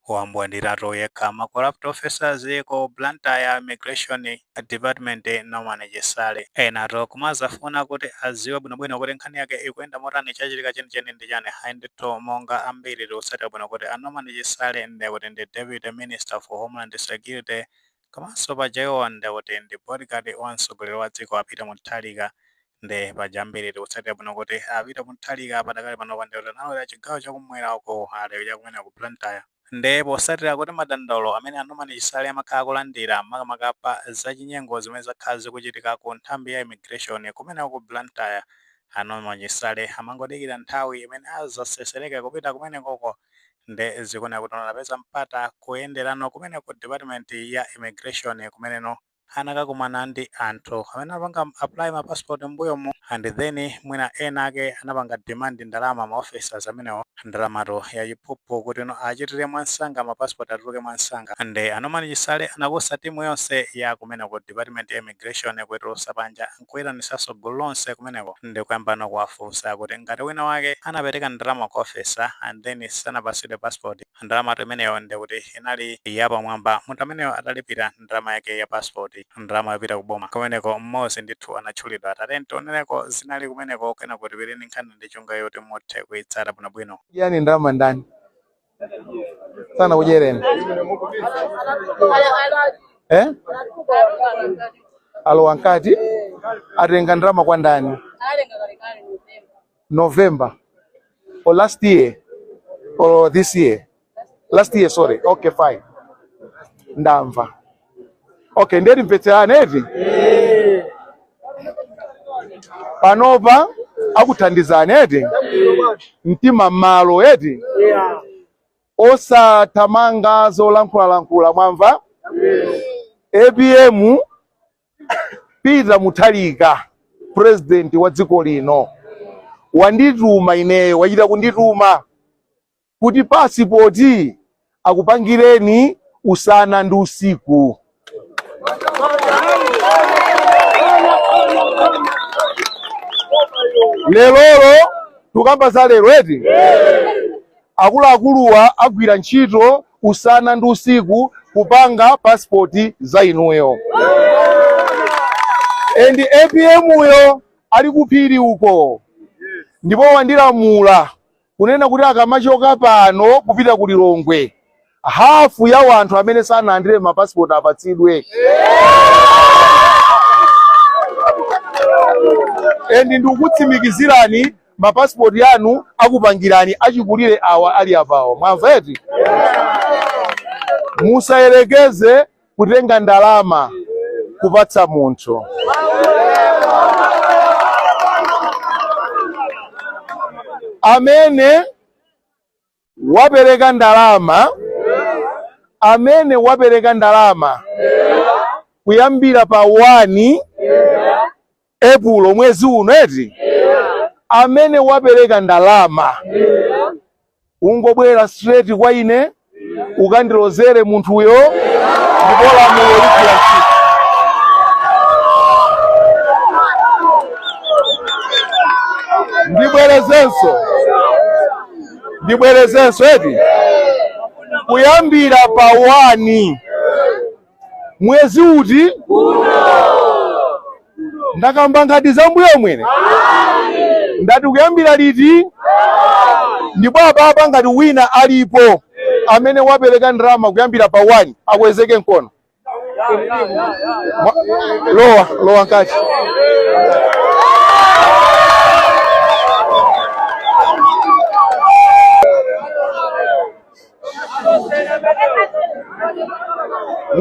wambwandira okha ma corrupt officers ku Blantyre immigration department Norman Chisale enatu kumazafuna kuti aziwe bwinobwino kuti nkhani yake ikuyenda motani chachitika chenicheni ndi chani hayi ndithu monga ambiri tikutsatira bwino kuti a Norman Chisale ndekuti ndi deputy minister for homeland security komanso paja iwowa ndekuti ndi bodyguard wa mtsogoleri wa dziko a Peter Mutharika Nde paja ambiri tikutsatira bwino kuti a Peter Mutharika padakali pano nde wuti analowera chigawo cha kum'mwera uko ali cha kumeneku ku Blantyre. Nde posatira kuti madandaulo amene a Norman Chisale amakhala akulandira makamaka pa za chinyengo zimene zakhala zikuchitika ku nthambi ya immigration kumeneko ku Blantyre, a Norman Chisale amangodikira nthawi imene azasesereke kupita kumenekoko nde zikuoneka kuti anapeza mpata kuyenderano kumeneku department ya immigration kumeneno. anakakumana ndi anthu amene anapanga apply ma passport mmbuyomu and then mwina ena ake anapanga demand ndalama ma officers amenewo ndalamatu ya chiphuphu kuti no achitire mwansanga ma passport atuluke mwansanga and a Norman Chisale anakusa timu yonse ya kumeneko department ya immigration kuitulusa panja nkuitanitsanso gulu lonse kumeneko ndi kuyambano kuwafunsa kuti ngati wina wake anapereka ndalama kwa officer and then sanapasidwe passport ndalamatu imeneyo ndi kuti inali yapamwamba munthu ameneyo atalipira ndalama yake ya passport ndalama yopita ku boma kumeneko mmodzi ndithu anatchulidwa tatiyeni tionereko zinali kumeneko kenako tipite ndi nkhaniyi ndi cholinga choti muthe kuitsata bwinobwino yani ndalama ndani sana kujereni eh? alowa nkati atenga ndalama kwa ndani November or last year or this year last year sorry okay fine ndamva okay ndiye timvetserane eti panopa akuthandizani eti mtima mmalo eti osathamanga zolankhulalankhula mwamva apm Peter Mutharika president wa dziko lino wandituma ineyo, wachita kundituma kuti pasipoti akupangireni usana ndi usiku. Lerolo tukamba za lero eti akuluakuluwa agwira ntchito usana ndi usiku kupanga passport za inuyo and apm uyo ali kuphiri uko ndipo wandilamula kunena kuti akamachoka pano kupita ku lilongwe hafu ya wanthu amene sanalandire mapasipoti apatsidwe and ndikukutsimikizirani ma passport anu akupangirani achikulire awa ali apawo mwamva eti musayerekeze kutenga ndalama kupatsa munthu amene wapereka ndalama amene wapereka ndalama kuyambira pa 1 epulo mwezi uno eti amene wapereka ndalama ungobwera straight kwa ine ukandilozere munthuyo ndipo lamulo ligwira ntchito ndibwerezenso ndibwerezenso eti kuyambira pa 1 mwezi uti ndakamba nkhani zambuyo mwene ndati kuyambira liti ndipo apapa ngati wina alipo amene wapereka ndalama kuyambira pa 1 akweze mkono lowa lowa mkati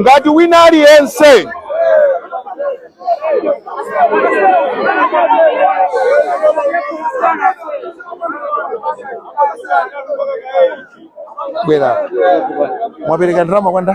ngati wina aliyense bwera mwapereka ndalama kwanda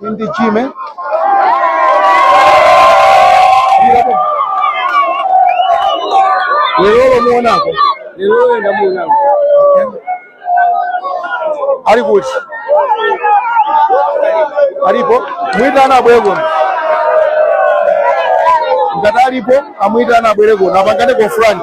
Ndi Jim, eh? Lero muonako. Lero ndamuonako. Ali kuti? Alipo? Mwitane abwere kuno. Ngati alipo, amwitane abwere kuno. Apangane confront.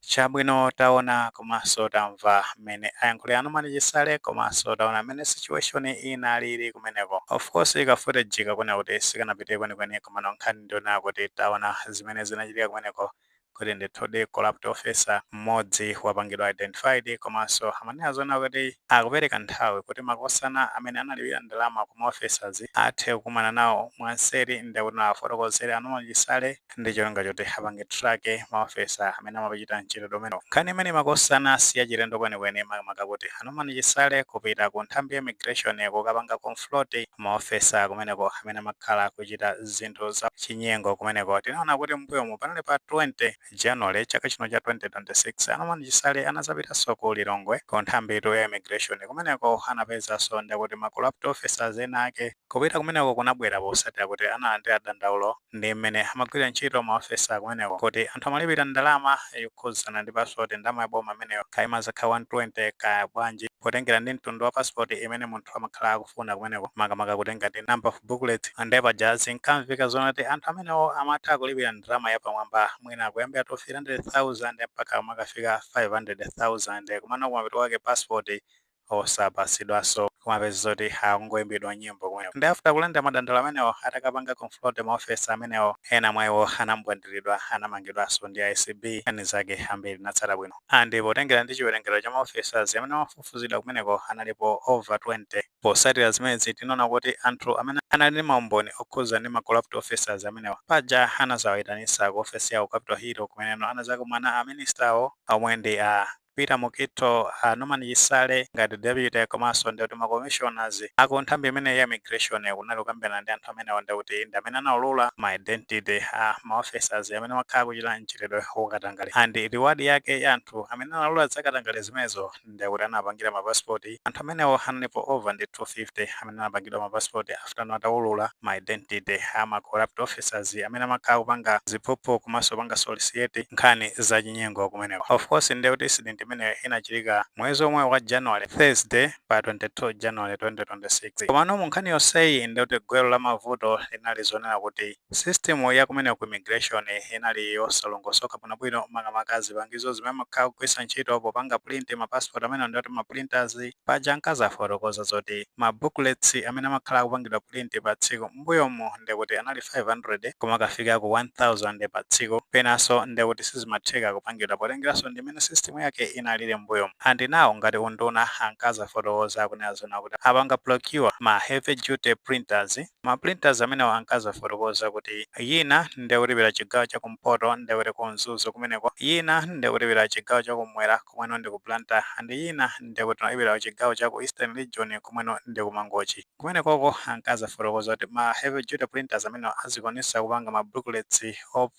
Chabwino taona komanso tamva mmene ayankhulira Norman Chisale komanso taona mmene situation inalili kumeneko. Of course ka footage kakuoneka kuti sikanapite kwenikweni komano nkhani ndiyonena kuti taona zimene zinachitika kumeneko kuti ndithudi corrupt officer mmodzi wapangidwa identified komanso amanena zoona kuti akupereka nthawi kuti makosana amene analipira ndalama ku ma officers athe kukumana nawo mwanseri ndikuti awafotokozere a Norman Chisale ndi cholinga choti apange track maofisa amene amapachita mchitidwe umenewu nkhani imeneyi makosana si yachilendo kwenikweni makamaka kuti a norman chisale kupita ku nthambi ya immigration kukapanga confront maofisa kumeneko amene amakhala akuchita zinthu za chinyengo kumeneko tinaona kuti mbuyomu panali pa 20 january chaka chino cha 2026 a norman chisale anadzapitanso ku lilongwe ku nthambitu ya immigration kumeneko anapezanso ndithu kuti ma corrupt officers ena ake Kupita kumeneko kunabwera potsatira kuti analandira dandaulo ndi mmene amagwirira ntchito ma officer kumeneko kuti anthu amalipira ndalama yokhudzana ndi pasipoti ndalama ya boma imeneyo kaya imazakhala 120 kaya bwanji potengera ndi mtundu wa pasipoti imene munthu amakhala akufuna kumeneko makamaka kutengera ndi number of booklet nde paja zinkamveka zoona kuti anthu amenewo amatha kulipira ndalama yapamwamba mwina kuyambira 200,000 mpaka kumakafika 500,000 komano kumapeto kwake pasipoti osapatsidwaso kumapeza zoti akungoimbidwa nyimbo kumeneko nde after kulandira madandaulo amenewo atakapanga confront ma officers amenewo ena mwa iwo anambwandilidwa anamangidwaso ndi acb nkhani zake ambiri tinatsata bwino and potengera ndi chiwerengero cha ma officers amene amafufuzidwa kumeneko analipo over 20 potsatira zimenezi tinaona kuti anthu amene anali ndi maumboni okhuza ndi ma corrupt officers amenewa paja anazawaitanisa ku ofesi yawo ku capital hill kumeneno anazakumana a minister awo omwe ndi a Peter Mukhito, a Norman Chisale ngati deputy komanso ndi kuti ma commissioners aku nthambi imeneyi ya immigration kunali kukambirana ndi anthu amenewo ndi kuti ndi amene anaulula ma identity a ma officers amene amakhala akuchita mchitidwe wa katangale and reward yake ya anthu amene anaulula za katangale zimenezo ndi kuti anapangira ma passport anthu amenewo analipo over ndi 250 amene anapangidwa ma passport after ataulula ma identity ama corrupt officers amene amakhala akupanga ziphuphu komanso kupanga solicit nkhani za chinyengo kumeneko. Of course ndiye kuti incident imeneyo inachitika mwezi omwe wa January, Thursday pa 22 January 2026. Komano mu nkhani yonseyi ndiye kuti gwero la mavuto linali zonena kuti. System ya kumeneko ku immigration inali yosalongosoka bwinobwino makamaka zipangizo zimene amakhala akugwiritsa ntchito popanga print ma passport amenewo ndi kuti ma printers. Paja ankazafotokoza zoti ma booklets amene amakhala akupangidwa print pa tsiku mmbuyomu ndiye kuti anali 500 kumakafika ku 1000 pa tsiku penanso ndiye kuti sizimatheka kupangidwa potengeranso ndi mmene system yake inalili mmbuyomu. And now ngati unduna ankazafotokoza akunena zoona kuti apanga procure ma heavy duty printers. Ma printers amenewa ankazafotokoza kuti yina ndi kuti ipita chigawo cha kumpoto ndiye kuti ku Mzuzu kumeneko, yina ndi kuti ipita chigawo cha kumwera komweno ndi ku Blantyre and yina ndi kuti inapita chigawo cha ku Eastern Region komweno ndi ku Mangochi. Kumenekoko ankazafotokoza kuti ma heavy duty printers amenewa azikwanisa kupanga ma booklets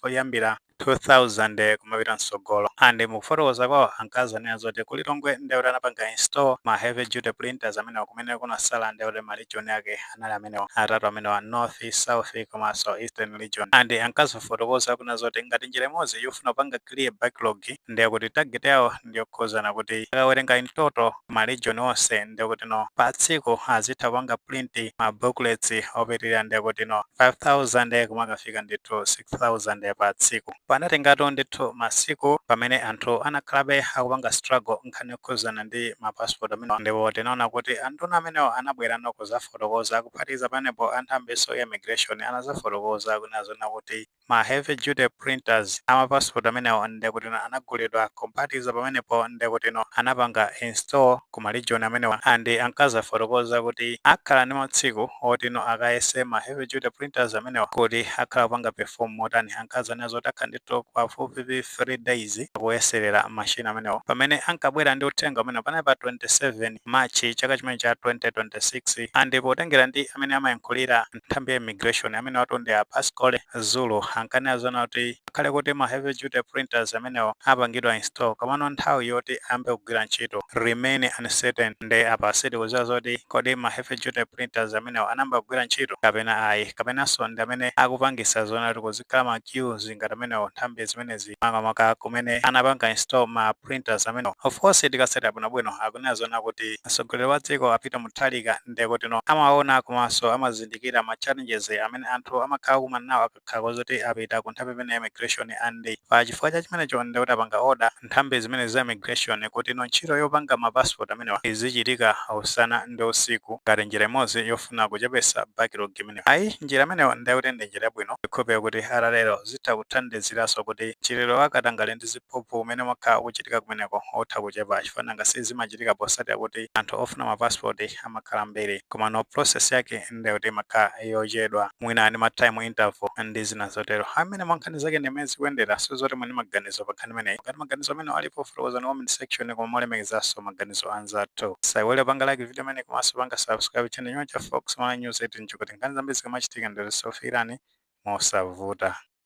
oyambira. 2000 kumapita msogolo and mukufotokoza kwawo ankazanena zoti ku Lilongwe ndekuti anapanga install ma heavy duty printers amenewa kumene kunasala ndekuti ma region ake anali amenewa atatu amenewa North, South komanso Eastern region and ankazafotokoza kunena zoti ngati njira imodzi yofuna kupanga clear backlog ndekuti target yawo ndiyokhuzana kuti akawerenga in total ma region onse ndekuti no pa tsiku azitha kupanga print ma booklets opitilira ndekuti no 5000 kumakafika ndithu 6000 pa tsiku. Panatengatu ndithu masiku pamene anthu anakhalabe akupanga struggle nkhani yokhuzana ndi ma passport amenewa ndipo tinaona kuti anduna amenewa anabwera no kuzafotokoza kuphatikiza pamenepo a nthambinso ya immigration anazafotokoza kunena zoona kuti Ma heavy duty printers ama passport amenewa ndekutino anagulidwa kuphatikiza pamenepo ndekutino anapanga install ku ma region amenewa and ankazafotokoza kuti akhala ndi matsiku otino akayese ma heavy duty printers amenewa kuti akhala kupanga perform motani ankazanena zoti akhala ndi pafupifupi 3 days akuyeselera machine amenewo pamene ankabwera ndi uthenga umenewo panali pa 27 March chaka chimene cha 2026 and potengera ndi amene amayankhulira nthambi ya immigration amene watu ndi a Pascal Zulu ankanena zona kuti akhale kuti ma heavy duty printers amenewa apangidwa install komano nthawi yoti ayambe kugwira ntchito remain uncertain nde apa sitikuziwa zoti kodi ma heavy duty printers amenewa anayamba kugwira ntchito kapena ayi kapenanso ndi amene akupangisa zona kuti kuzikhala ma queues ngati amenewa nthambi zimenezi makamaka kumene anapanga install ma printers amenewa of course tikasata bwinobwino akunena zona kuti mtsogoleri wa dziko a Peter Mutharika ndekuti no amaona komanso amazindikira ma challenges amene anthu amakhala akukumana nawo akakhala kozoti apita ku nthambi imene ya immigration and pa chifukwa cha chimenecho ndekuti apanga order nthambi zimene za immigration kuti no ntchito yopanga ma passport amenewa izichitika usana ndi usiku ngati njira imodzi yofuna kuchepesa backlog imeneyo ayi njira imeneyo ndekuti ndi njira yabwino ndikukhulupira kuti atatero zitha kuthandiziranso kuti mchitidwe wa katangale ndi uphuphu umene umakhala ukuchitika kumeneko utha kuchepa chifukwa nanga si zimachitika posatira kuti anthu ofuna ma passport amakhala ambiri komano process yake ndiye kuti imakhala yochedwa mwina ndi ma time interval ndi zina zotero. Ayi mmenemo nkhani zake ndi mmene zikuyendera sindikudziwa zoti muli ndi maganizo pa nkhani imeneyi. Ngati maganizo amenewo alipo fotokozani ku comment section koma molemekezanso maganizo a anzathu. Musaiwale kupanga like video imeneyi komanso kupanga subscribe channel ino ya Fox Malawi News 18 chikuti nkhani zambiri zikamachitika ndiye kuti zikufikirani mosavuta.